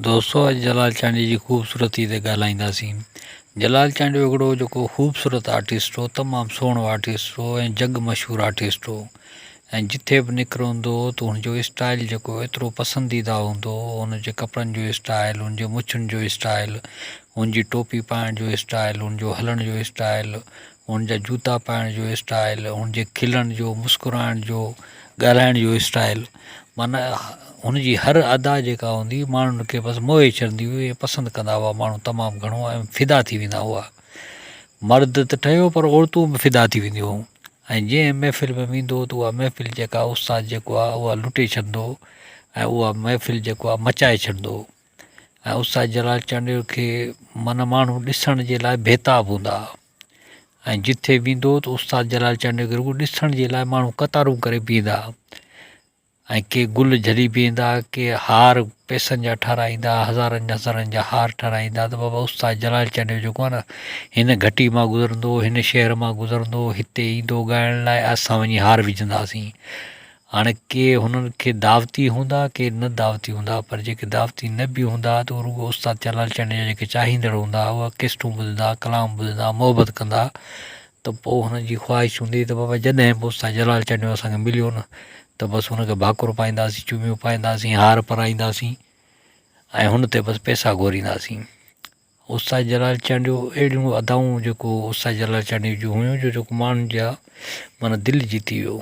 دوستو اڄ جلال چانڊيي جي خوبصورتي تي ڳالهائينداسين جلال چانڊيو هڪڙو جيڪو خوبصورت آرٽسٽ هو تمام سهڻو آرٽسٽ هو ۽ جڳ مشهور آرٽسٽ هو ۽ جٿي به نڪرو هوندو هو ته هن جو اسٽائل جيڪو ايترو پسنديده هوندو هو هن جي ڪپڙن جو اسٽائل هن جي مڇن جو اسٽائل هن جي ٽوپي پائڻ جو اسٽائل هن جو هلڻ جو اسٽائل هن جا جوتا پائڻ جو اسٽائل هن جي کلڻ جو مسڪرائڻ جو ڳالهائڻ جو اسٽائل معنيٰ هن جي هر ادا جيڪا هوندي هئي ماڻهن کي بس موهي ڇڏندي هئي ۽ پسند ڪندا هئا ماڻهو تمام گهڻو ۽ فدا ٿي ويندا هئا مرد ته ٺهيو پر عورتون به فدا ٿي وينديون هيون ۽ جنهن محفل ۾ ويندو هو ته اها محفل جيڪا استاد جيڪو آهي اها لٽي ڇڏندو هو ۽ اها محفل جيڪو آهي مچائي ڇڏندو هو ۽ استاد جلال چانڊيو کي من ماڻهو ڏسڻ جي لاء بيتاب هوندا هئا ۽ جتي ويندو هو ته استاد جلال چانڊيو کي رڳو ڏسڻ جي لاء ماڻهو قطارون ڪري بيهندا هئا ۽ ڪي گل جھلي بيهندا هئا ڪي هار پئسن جا ٺاراهيندا هئا هزارن هزارن جا هار ٺاراهيندا هئا ته بابا استاد جلال چانڊيو جيڪو آهي نه هن گھٽي مان گذرندو هن شهر مان گذرندو هتي ايندو ڳائڻ لاء اسان وڃي هار وجھنداسين هاڻي ڪي هنن کي دعوتي هوندا ڪي نه دعوتي هوندا پر جيڪي دعوتي نه به هوندا ته اهي رڳو استاد چيلان چنڊ جا جيڪي چاهيندڙ هوندا اهي ڪيسٽون ٻڌندا ڪلام ٻڌندا محبت ڪندا ته پوء هنن جي خواهش هوندي ته بابا جڏهن به استاد جلال چنڊيو اسان کي مليو نه ته بس هن کي ڀاڪر پائينداسين چوميون پائينداسين هار پرائينداسين ۽ هن تي بس پيسا گهورينداسين استاد جلال چانڊيو اهڙيون ادائون جيڪو استاد جلال چانڊيو جون هيون جو جيڪو ماڻهن جا مانا دل جيتي ويو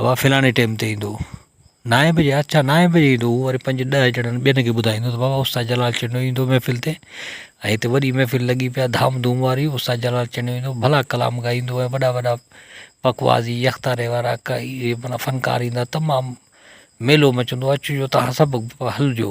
اوا فلاڻي ٽيم تي ايندو نائين بجي اچا نائين بجي ايندو هو وري پنج ڏهه ڄڻن ٻين کي ٻڌائيندو بابا استاد جلال چنڙيو ايندو محفل تي ۽ هتي وڏي محفل لڳي پيا ڌام ڌوم واري استاد جلال چنڙيو ايندو ڀلا ڪلام ڳائيندو ۽ وڏا وڏا پکوازي يڪتاري وارا ڪئي منا فنڪار ايندا تمام ميلو مچندو اچجو تهان سڀ هلجو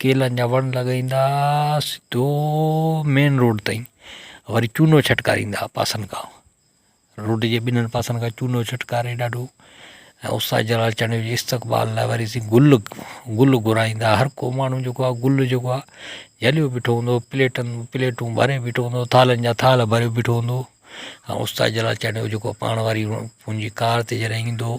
ڪيلن جا وڻ لڳائيندا سڌو مين روڊ تائين وري چونو ڇٽڪاريندا ھئا پاسن کان روڊ جي ٻنھي پاسن کان چونو ڇٽڪاري ڏاڍو ۽ استاد جلال چانڊيو جي استقبال لاء وري سين گل گل گھرائيندا ھر ڪو ماڻھو جيڪو آ گل جيڪو آ جھليو بيٺو ھوندو ھو پليٽن پليٽون ڀري بيٺو ھوندو ھو ٿالھن جا ٿالھه ڀري بيٺو ھوندو ھو ۽ استاد جلال چانڊيو جيڪو پاڻ واري پنھنجي ڪار تي جڏھن ايندو ھو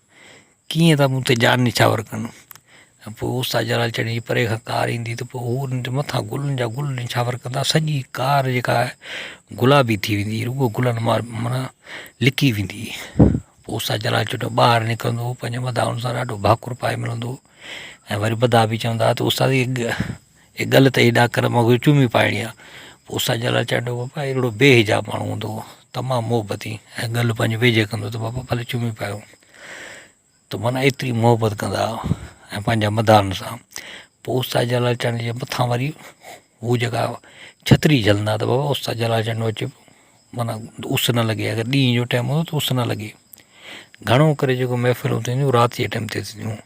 ڪيئن ٿا مون تي جان نڇاور ڪن. ۽ پوء اوستاد جلال چڙيي جي پري کان ڪار ايندي ته پوء هو انهن جي مٿان گلن جا گل نڇاور ڪندا. سڄي ڪار جيڪا آهي گلابي ٿي ويندي هئي رڳو گلن مان معنيٰ لڪي ويندي هئي. پوء اوستاد جلال چٽو ٻاهر نڪرندو هو پنهنجي مداحن سان ڏاڍو ڀاڪر پائي ملندو هو ۽ وري مداح به چوندا هئا ته اوستاد اي ڳل تي هيڏا ڪر مون کي چومي پائڻي آ. پوء سان جلال چانڊيو بابا اهڙو بي حجاب ماڻهو هوندو هو. تمام محبتي ۽ ڳل پنهنجي ويجهي ڪندو هو ته بابا ڀلي چومي پايو. ته معنيٰ ايتري محبت ڪندا هئا ۽ پنهنجا مداحن سان. پوء استاد جلال چانڊيو جي مٿان وري هو جيڪا ڇتري جهلندا ته بابا استاد جلال چانڊيو اچي پيو معنيٰ اس نه لڳي اگر ڏينهن جو ٽيم هوندو هو ته اس نه لڳي. گهڻو ڪري جيڪو محفلون ٿينديون هيون رات جي ٽيم تي ٿينديون هيون.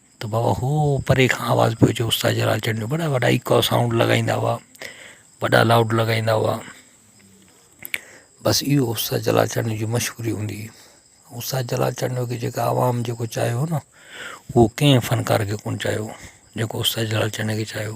ته بابا هو پري کان آواز پيو اچي استاد جلال چنڙ جو وڏا وڏا ايڪو سائونڊ لڳائيندا هئا وڏا لائوڊ لڳائيندا هئا بس اهو استاد جلال چنڙ جي مشهوري هوندي هئي استاد جلال چنڙ کي جيڪا عوام جيڪو چاهيو هو ڪنهن فنڪار کي ڪونه چاهيو جيڪو استاد جلال چنڙ کي چاهيو